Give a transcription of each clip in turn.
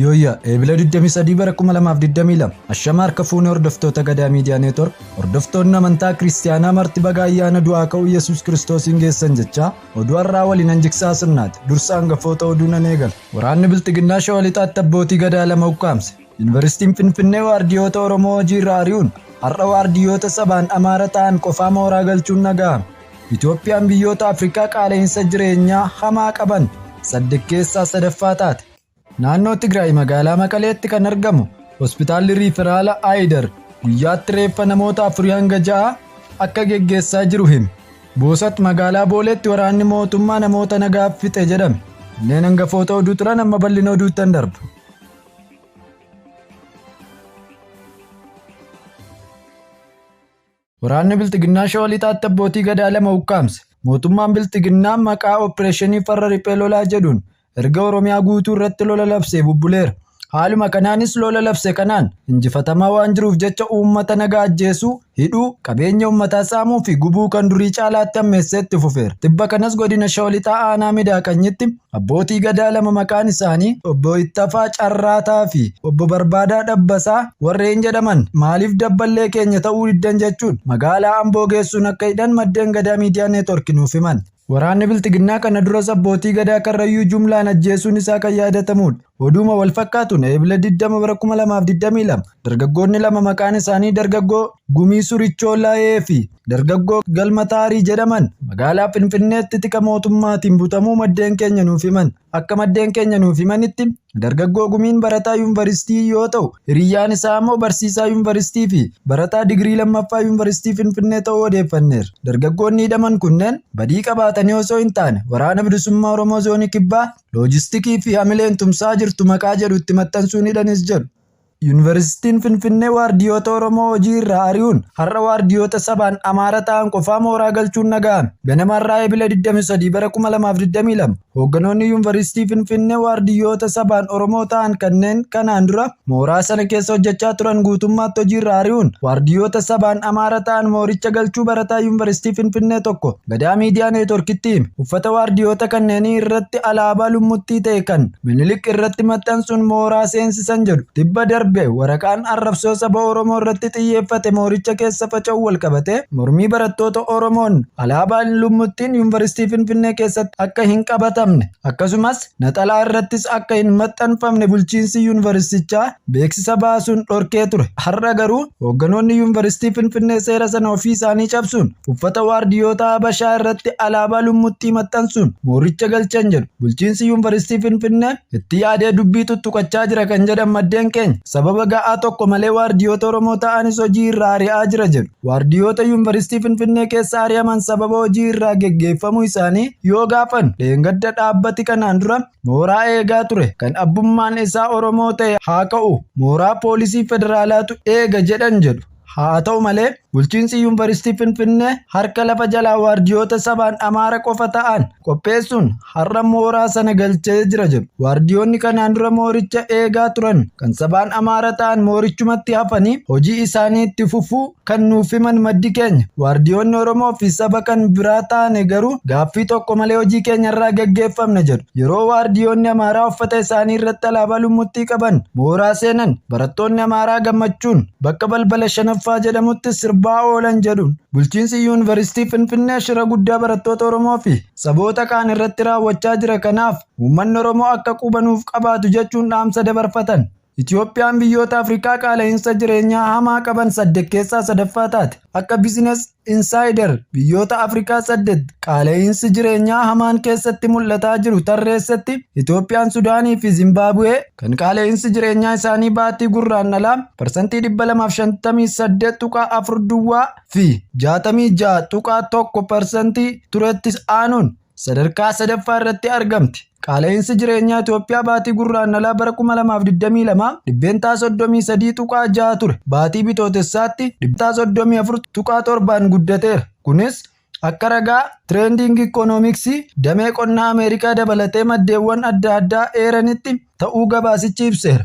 Yooyyaa Eebila 23 bara 2022 Ashama harka fuunee hordoftoota Gadaa Miidiyaa Neetwork hordoftoonni amantaa kiristiyaanaa marti baga ayyaana du'aa ka'uu Yesuus Kiristoosiin geessan jechaa oduu har'aa waliin hanjiksaa sirnaati dursa hangafoota oduu nan eegala. Waraanni Bilxiginnaa Shawaa Lixaatti abbootii Gadaa lama ukkaamse. Yuunivarsiitiin Finfinnee waardiyoota Oromoo hojii irraa ari'uun har'a waardiyyoota sabaan Amaara ta'an qofaa mooraa galchuun dhaga'ame. Itoophiyaan biyyoota Afrikaa qaala'insa jireenyaa hamaa qaban saddeet keessaa sadaffaa taate. Naannoo Tigraay magaalaa Maqaleetti kan argamu hospitaalli riiferaala Aayidar guyyaatti reeffa namoota afurii hanga ja'a akka geggeessaa jiru hime. Boosat magaalaa Booleetti waraanni mootummaa namoota nagaa fixe jedhame. Kanneen hangafoota oduu turan amma bal'ina oduuttan darba. Waraanni Bilxiginnaa Shawaa Lixaatti abbootii gadaa lama ukkaamse. Mootummaan Bilxiginnaa maqaa Oppireeshinii Farra Riphee Lolaa jedhuun erga Oromiyaa guutuu irratti lola labsee bubbuleera. Haaluma kanaanis lola labse kanaan injifatamaa waan jiruuf jecha uummata nagaa ajjeesuu, hidhuu, qabeenya uummataa saamuu fi gubuu kan durii caalaatti hammeessee itti fufeera. Tibba kanas godina Shawaa Lixaa aanaa Midaaqanyitti Abbootii Gadaa lama maqaan isaanii Obbo Ittafaa Carraataa fi Obbo Barbaadaa Dhabbasaa warreen jedhaman maaliif dabballee keenya ta'uu diddan jechuun magaalaa Amboo geessuun akka hidhan maddeen Gadaa Miidiyaa Neetwork nuuf himan. Waraanni Bilxiginnaa kana duras Abbootii Gadaa Karrayyuu jumlaan ajjeesuun isaa kan yaadatamuudha. Oduuma wal fakkaatuun Eebila 20 bara 2022 dargaggoonni lama maqaan isaanii dargaggoo Gumii Surichoo Layee fi Dargaggoo Galma Taarii jedhaman magaalaa Finfinneetti tika mootummaatiin butamuu maddeen keenya nuuf himan. Akka maddeen keenya nuuf himanitti dargaggoo gumiin barataa yuunivarsiitii yoo ta'u hiriyyaan isaa ammoo barsiisaa yuunivarsiitii fi barataa digirii lammaffaa yuunivarsiitii Finfinnee ta'uu odeeffanneerra. Dargaggoonni hidhaman kunneen badii qabaatanii osoo hin taane waraana bilisummaa Oromoo zoonii kibbaa loojistikii fi hamileen tumsaa jirtu maqaa jedhu itti maxxansuun hidhanis jedhu. Yuunivarsiitiin Finfinnee waardiyoota Oromoo hojii irraa ari'uun har'a waardiyoota sabaan Amaara ta'an qofaa mooraa galchuun naga'ame. Ganama har'aa Ebila 23 bara 2022 hoogganoonni Yuunivarsiitii Finfinnee waardiyyoota sabaan Oromoo ta'an kanneen kanaan dura mooraa sana keessa hojjechaa turan guutummaatti hojii irraa ari'uun waardiyyoota sabaan Amaara ta'an mooricha galchuu barataa Yuunivarsiitii Finfinnee tokko Gadaa Miidiyaa Neetworkitti uffata waardiyoota kanneenii irratti alaabaa lummuttii ta'e kan Minilik irratti maxxansuun mooraa seensisan jedhu tibba darbe waraqaan arrabsoo saba Oromoo irratti xiyyeeffate mooricha keessa faca'uu walqabatee mormii barattoota Oromoon alaabaan lummuttiin Yuunvarsiitii Finfinnee keessatti akka hin qabatamne Akkasumas naxalaa irrattis akka hin maxxanfamne bulchiinsi yuunivarsiitichaa beeksisa baasuun dhorkee ture. Har'a garuu hoogganoonni yuunivarsiitii Finfinnee seera sana ofii isaanii cabsuun uffata waardiyyootaa Habashaa irratti alaabaa lummuttii maxxansuun mooricha galchan jedhu bulchiinsi yuunivarsiitii Finfinnee itti yaadee dubbii tuttuqachaa jira kan jedhan maddeen keenya sababa ga'aa tokko malee waardiyyoota Oromoo ta'anis hojii irraa ari'aa jira jedhu. Waardiyoota Yuunvarsiitii Finfinnee keessa ari'aman sababa hojii irraa geggeeffamuu isaanii yoo gaafan dheengadda dhaabbati kanaan dura mooraa eegaa ture kan abbummaan isaa Oromoo ta'e haa ka'u mooraa poolisii federaalaatu eega jedhan jedhu. Haa ta'u malee bulchiinsi Yuunvarsiitii Finfinnee harka lafa jalaa waardiyoota sabaan Amaara qofa ta'an qopheessuun har'a mooraa sana galchee jira jedhu. Waardiyoonni kanaan dura mooricha eegaa turan kan sabaan Amaara ta'an moorichumatti hafanii hojii isaanii itti fufuu kan nuuf himan maddi keenya. Waardiyoonni Oromoo fi saba kan biraa taane garuu gaaffii tokko malee hojii keenya irraa gaggeeffamna jedhu. Yeroo waardiyoonni Amaaraa uffata isaanii irratti alaabaa lummuttii qaban mooraa seenan barattoonni Amaaraa gammachuun bakka balbala shanaffaa jedhamutti sirbaa oolan jedhuun. Bulchiinsi Yuunivarsiitii Finfinnee shira guddaa barattoota Oromoo fi saboota kaan irratti raawwachaa jira kanaaf uummanni Oromoo akka quba nuuf qabaatu jechuun dhaamsa dabarfatan. Itiyoophiyaan biyyoota Afrikaa qaala'iinsa jireenyaa hamaa qaban saddeet keessaa sadaffaa taate. Akka Business Insider biyyoota Afrikaa saddeet qaala'iinsi jireenyaa hamaan keessatti mul'ataa jiru tarreessetti Itiyoophiyaan Sudaanii fi Zimbaabuwee kan qaala'iinsi jireenyaa isaanii baatii gurraandhalaa parsantii 258.4 duwwaa fi 66.1 parsantii turettis aanuun sadarkaa sadaffaa irratti argamti. Qaala'insi jireenyaa Itoophiyaa baatii gurraandhalaa bara 2022 dhibbeentaa 33.6 ture. Baatii bitootessaatti dhibbeentaa 34.7n guddateera. Kunis akka ragaa Trending Economics damee qonnaa Ameerikaa dabalatee maddeewwan adda addaa eeranitti ta'uu gabaasichi ibseera.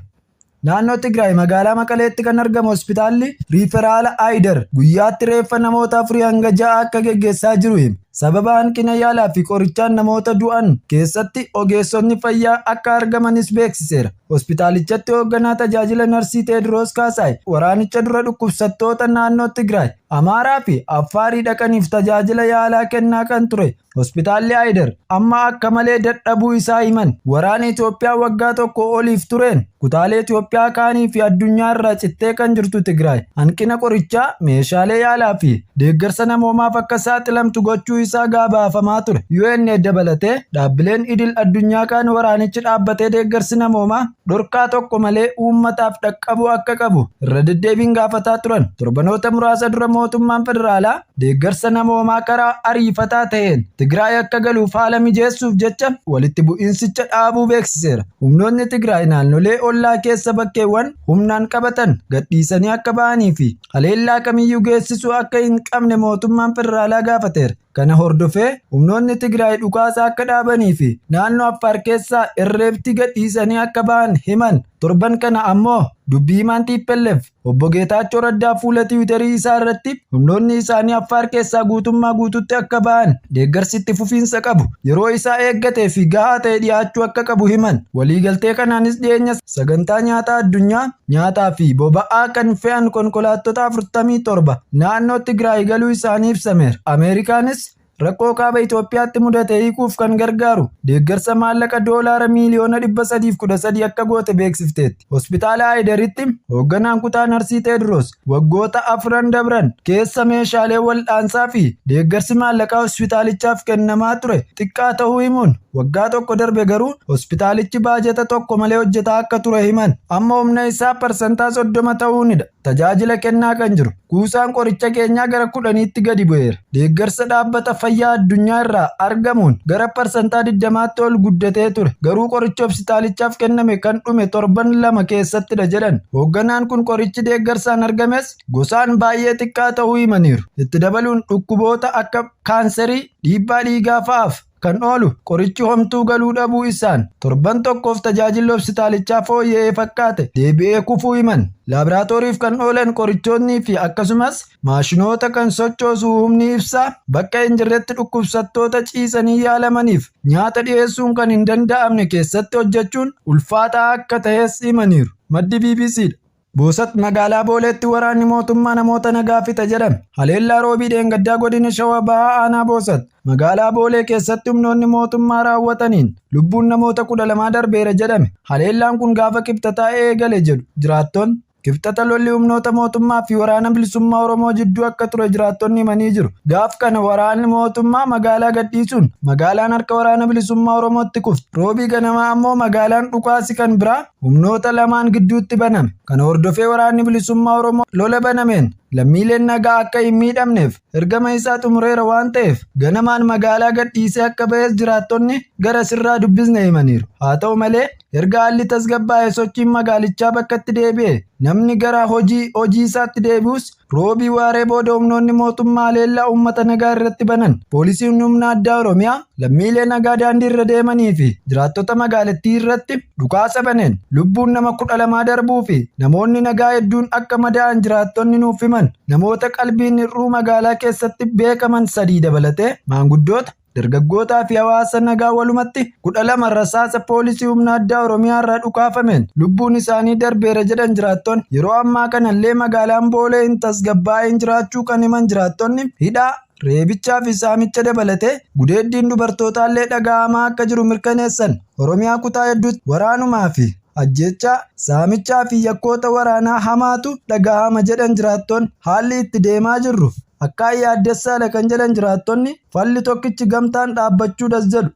Naannoo Tigraay magaalaa Maqaleetti kan argamu hospitaalli riiferaala Ayider guyyaatti reeffa namoota afurii hanga ja'a akka geggeessaa jiru hime. Sababa hanqina yaalaa fi qorichaan namoota du'an keessatti ogeessonni fayyaa akka argamanis beeksiseera. Hospitaalichatti hoogganaa tajaajila narsii Teediroos Kaasaay waraanicha dura dhukkubsattoota naannoo Tigraay, Amaaraa fi Affaarii dhaqaniif tajaajila yaalaa kennaa kan ture Hospitaalli Ayidar amma akka malee dadhabuu isaa himan. Waraana Itoophiyaa waggaa tokko oliif tureen kutaalee Itoophiyaa kaanii fi addunyaa irraa cittee kan jirtu Tigraay hanqina qorichaa, meeshaalee yaalaa fi deeggarsa namoomaaf akka saaxilamtu gochuu isaa gabaafamaa ture. UN dabalatee dhaabbileen idil addunyaa kaan waraanichi dhaabbatee deeggarsi namoomaa dhorkaa tokko malee uummataaf dhaqqabuu akka qabu irra deddeebiin gaafataa turan. Torbanoota muraasa dura mootummaan federaalaa Deeggarsa namoomaa karaa ariifataa ta'een Tigraay akka galuuf haala mijeessuuf jecha walitti bu'iinsicha dhaabuu beeksiseera. Humnoonni Tigraay naannolee ollaa keessa bakkeewwan humnaan qabatan gadhiisanii akka ba'anii fi haleellaa kamiyyuu geessisuu akka hin qabne mootummaan federaalaa gaafateera. Kana hordofee humnoonni Tigraay dhukaasa akka dhaabanii fi naannoo Affaar keessaa irreebtii gadhiisanii akka ba'an himan. Torban kana ammoo dubbii himaan TPLF Obbo Geetaachoo Raddaa fuula Tiwiitarii isaa irratti humnoonni isaanii Affaar keessaa guutummaa guututti akka ba'an deeggarsi itti fufiinsa qabu yeroo isaa eeggatee fi gahaa ta'e dhiyaachuu akka qabu himan. Waliigaltee kanaanis dhiyeenya sagantaa nyaataa addunyaa nyaataa fi boba'aa kan fe'an konkolaattota 47 naannoo Tigraay galuu isaanii ibsameera. Ameerikaanis Rakkoo kaaba Itoophiyaatti mudate hiikuuf kan gargaaru deeggarsa maallaqa doolaara miiliyoona 313 akka goote beeksifteetti. Hospitaala Haayidaritti hoogganaan kutaa Narsii Teediroos waggoota afran dabran keessa meeshaalee wal'aansaa fi deeggarsi maallaqaa hospitaalichaaf kennamaa ture xiqqaa ta'uu himuun waggaa tokko darbe garuu hospitaalichi baajata tokko malee hojjetaa akka ture himan. Amma humna isaa parsantaa 30 ta'uunidha. Tajaajila kennaa kan jiru. Kuusaan qoricha keenyaa gara kudhaniitti gadi bu'eera. Deeggarsa Dhaabbata Fayyaa Addunyaa irraa argamuun gara parsantaa 20tti ol guddatee ture, garuu qorichi hopsitaalichaaf kenname kan dhume torban lama keessattidha jedhan. Hoogganaan kun qorichi deeggarsaan argames gosaan baay'ee xiqqaa ta'uu himaniiru. Itti dabaluun dhukkuboota akka kaanserii, dhiibbaa dhiigaa fa'aaf kan oolu qorichi homtuu galuu dhabuu issaan torban tokkoof tajaajilli hobsitaalichaa fooyya'ee fakkaate deebi'ee kufuu himan. Laabraatooriif kan oolan qorichootnii fi akkasumas maashinoota kan sochoosu humni ibsaa bakka hin jirretti dhukkubsattoota ciisanii yaalamaniif nyaata dhiyeessuun kan hin danda'amne keessatti hojjechuun ulfaataa akka tahes himaniiru. Maddi BBCdha. Boosat, Magaalaa Booleetti waraanni mootummaa namoota nagaa fixa jedhame. Haleellaa Roobii dheengaddaa godina Shawaa Bahaa Aanaa Boosat, magaalaa Boolee keessatti humnoonni mootummaa raawwataniin lubbuun namoota 12 darbeera jedhame. Haleellaan kun gaafa Kibxataa eegale jedhu jiraattonni. Kibxata lolli humnoota mootummaa fi waraana bilisummaa Oromoo jidduu akka ture jiraattonni himanii jiru. Gaaf kana waraanni mootummaa magaalaa gadhiisuun magaalaan harka waraana bilisummaa Oromootti kufte. Roobii ganamaa ammoo magaalaan dhukaasi kan biraa humnoota lamaan gidduutti baname. Kana hordofee waraanni bilisummaa Oromoo lola banameen lammiileen nagaa akka hin miidhamneef ergama isaa xumureera waan ta'eef ganamaan magaalaa gadhiisee akka ba'es jiraattonni gara sirraa dubbisne himaniiru. Haa ta'u malee erga haalli tasgabbaa'e sochiin magaalichaa bakkatti deebi'e namni gara hojii hojii isaatti deebi'us Roobii waaree booda humnoonni mootummaa haleellaa uummata nagaa irratti banan poolisiin humna addaa Oromiyaa lammiilee nagaa daandii irra deemanii fi jiraattota magaalattii irratti dhukaasa baneen lubbuun nama kudha lamaa darbuu fi namoonni nagaa hedduun akka madaa'an jiraattonni nuuf himan namoota qalbiin hir'uu magaalaa keessatti beekaman sadii dabalatee maanguddoota dargaggootaa fi hawaasa nagaa walumatti 12 rasaasa poolisii humna addaa Oromiyaa irraa dhukaafameen lubbuun isaanii darbeera jedhan jiraattoonni. Yeroo ammaa kanallee magaalaan Boolee hin tasgabbaa'in jiraachuu kan himan jiraattonni hidhaa, reebichaa fi saamicha dabalatee gudeeddiin dubartootaallee dhaga'amaa akka jiru mirkaneessan. Oromiyaa kutaa hedduutti waraanumaa fi ajjeechaa, saamichaa fi yakkoota waraanaa hamaatu dhaga'ama jedhan jiraattoonni. Haalli itti deemaa jirru Akkaan yaaddessaadha kan jedhan jiraattonni falli tokkichi gamtaan dhaabbachuudhas jedhu.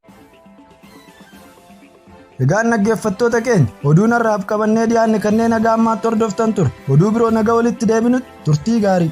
Egaan dhaggeeffattoota keenya oduu narraaf qabannee dhiyaanne kanneen haga ammaatti hordoftan ture oduu biroo naga walitti deebinutti turtii gaarii.